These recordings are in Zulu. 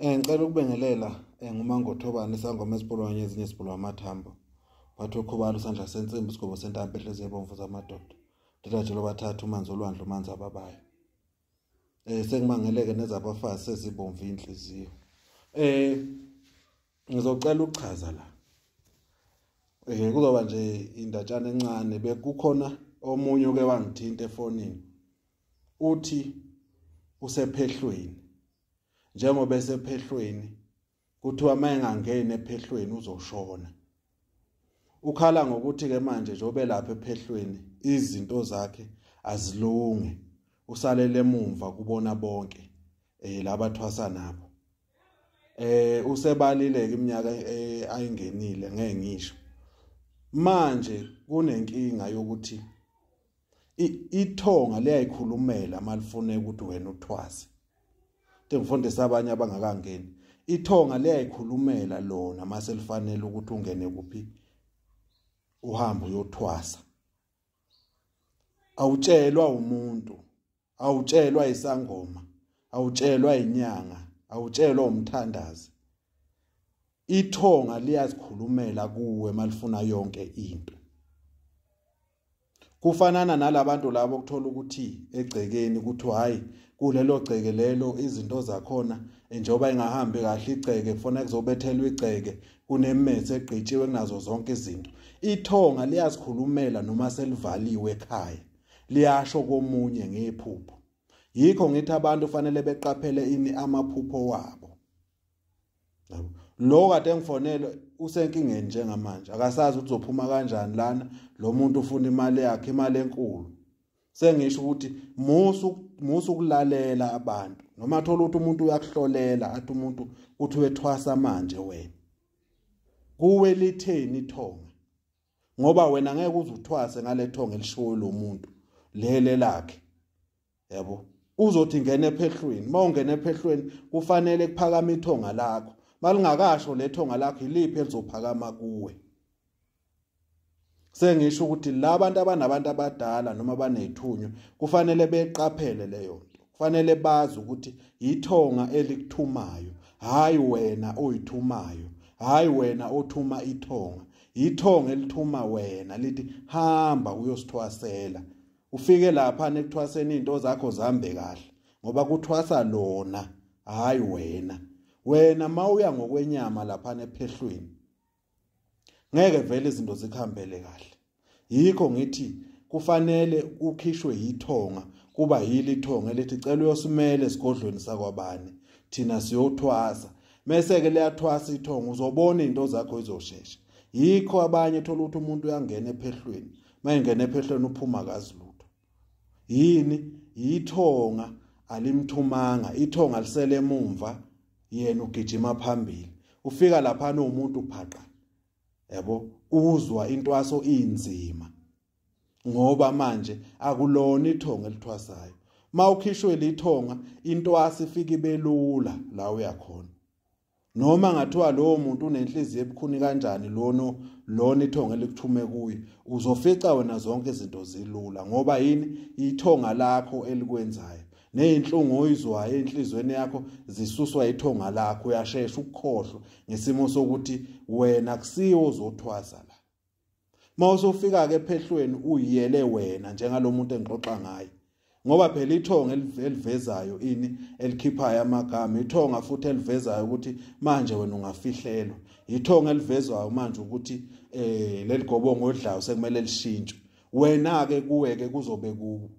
Eh ngicela ukubengelela eh ngumangothobani isangoma esipolwanye ezinye sipolwa amathambo. Bathi okhubala usandla sensimbi isigobo sentambo ehlezi ebomvu zamadoda. Ndidajelo bathathu umanzi olwandle umanzi ababayo. Eh sengimangeleke nezabafazi sezibomvu inhliziyo. Eh ngizocela ukuchaza la. Eh kuzoba nje indatshana encane bekukhona omunye oke wangithinta efonini. uthi usephehlweni njengoba esephehlweni kuthiwa uma engangeni ephehlweni uzoshona ukhala ngokuthi ke manje njengoba elapha ephehlweni izinto zakhe azilunge usalele emumva kubona bonke eh labathwasa nabo eh usebalile iminyaka eh, ayingenile ngeke ngisho manje kunenkinga yokuthi ithonga liyayikhulumela malifune ukuthi wena uthwase into engifundisa abanye abangakangeni ithonga liyayikhulumela lona mase lifanele ukuthi ungene kuphi uhambe uyothwasa awutshelwa umuntu awutshelwa isangoma awutshelwa inyanga awutshelwa umthandazi ithonga liyazikhulumela kuwe malifuna yonke into kufanana nalabantu labo okuthola ukuthi egcekeni ukuthi hayi kulelo gceke lelo izinto zakhona njengoba ingahambi kahle igceke kufanele kuzobethelwa igceke kunemethe egqitshiwe kunazo zonke izinto ithonga liyazikhulumela noma selivaliwe ekhaya liyasho komunye ngephupho yikho ngithi abantu fanele beqaphele ini amaphupho wabo yabo lo kade engifonele usenkingeni njengamanje akasazi ukuthi uzophuma kanjani lana lo muntu ufuna imali yakhe imali enkulu sengisho ukuthi musu musu ukulalela abantu noma thola ukuthi umuntu uyakuhlolela athi umuntu uthi wethwasa manje wena kuwe litheni ithonga ngoba wena ngeke uzuthwase ngalethonga elishoyo lomuntu lele lakhe yabo uzothi ngene ephehlweni mawungena ephehlweni kufanele kuphakama ithonga lakho malingakasho lethonga lakho iliphi elizophakama kuwe sengisho ukuthi labantu abanabantu abadala noma banethunywa kufanele beqaphele leyo nto kufanele bazi ukuthi yithonga elikuthumayo hayi wena oyithumayo hayi wena othuma ithonga yithonga elithuma wena lithi hamba uyosithwasela ufike lapha nekuthwaseni into zakho zambe kahle ngoba kuthwasa lona hayi wena wena mawuya ngokwenyama lapha nephehlweni ngeke vele izinto zikhambele kahle yikho ngithi kufanele ukhishwe yithonga kuba yili ithonga elithi cela uyosimele esigodlweni sakwabani thina siyothwasa mese ke liyathwasa ithonga uzobona izinto zakho izoshesha yikho abanye thola ukuthi umuntu uyangena ephehlweni mayengena ephehlweni uphuma kazi lutho yini yithonga alimthumanga ithonga lisele emumva yena ugijima phambili ufika lapha nomuntu phaqa yabo uzwa intwaso inzima ngoba manje akulona ithonga elithwasayo mawukhishwe lithonga intwasi ifika ibelula la uyakhona noma ngathiwa lowo muntu unenhliziyo ebukhuni kanjani lono lona ithonga elikuthume kuye uzofica wena zonke izinto zilula ngoba yini ithonga lakho elikwenzayo nezinhlungu oyizwayo enhlizweni yakho zisuswa ithonga lakho uyashesha ukukhohlwa ngesimo sokuthi wena kusiwo ozothwasa la mawusofika ke ephehlweni uyele wena njengalomuntu engixoxa ngaye ngoba phela ithonga elivezayo ini elikhiphayo amagama ithonga futhi elivezayo ukuthi manje wena ungafihlelwa ithonga elivezwayo manje ukuthi eh leligobongo odlayo sekumele lishintshwe wena ke kuwe ke kuzobe ku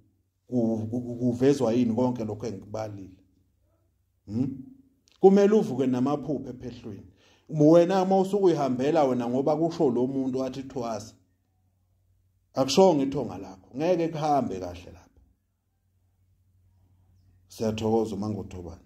kuvezwa yini konke lokho engikubalile hm kumele uvuke namaphuphe ephehlweni wena uma usukuyihambela wena ngoba kusho lo muntu athi thwasa akushonga ithonga lakho ngeke kuhambe kahle lapha siyathokoza uma ngothobana